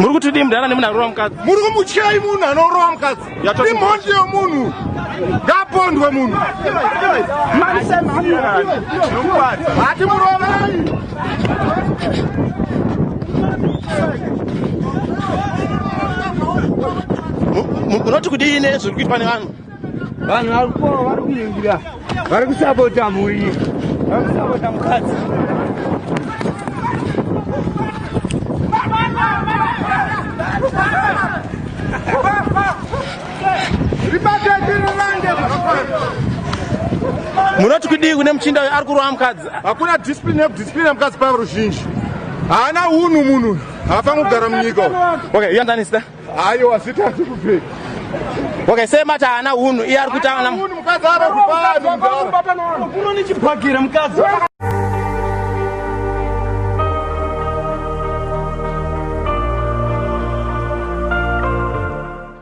muri kuti dii mudhara nemunhu arova mukadzi muri kumutyai munhu anorova mukadzi imhondi yomunhu ngapondwe munhu hati murovai munoti kudii nezviri kuitwa nevanhu vanhu vari kupoa vari kuingira vari kusapota mhuri vari kusapota mukadzi munoti kudii kune muchinda uyo ari kurova mukadzi hakuna discipline yekudiscipline mukadzi pava ruzhinji haana unhu munhu haafange kugara munyika okay you understand Ayo asita asi kubve. Okay, same mata ana hunu. Iye ari kuita ana. Hunu mukadzi ara kupana. Kuno ni chibhakira mukadzi.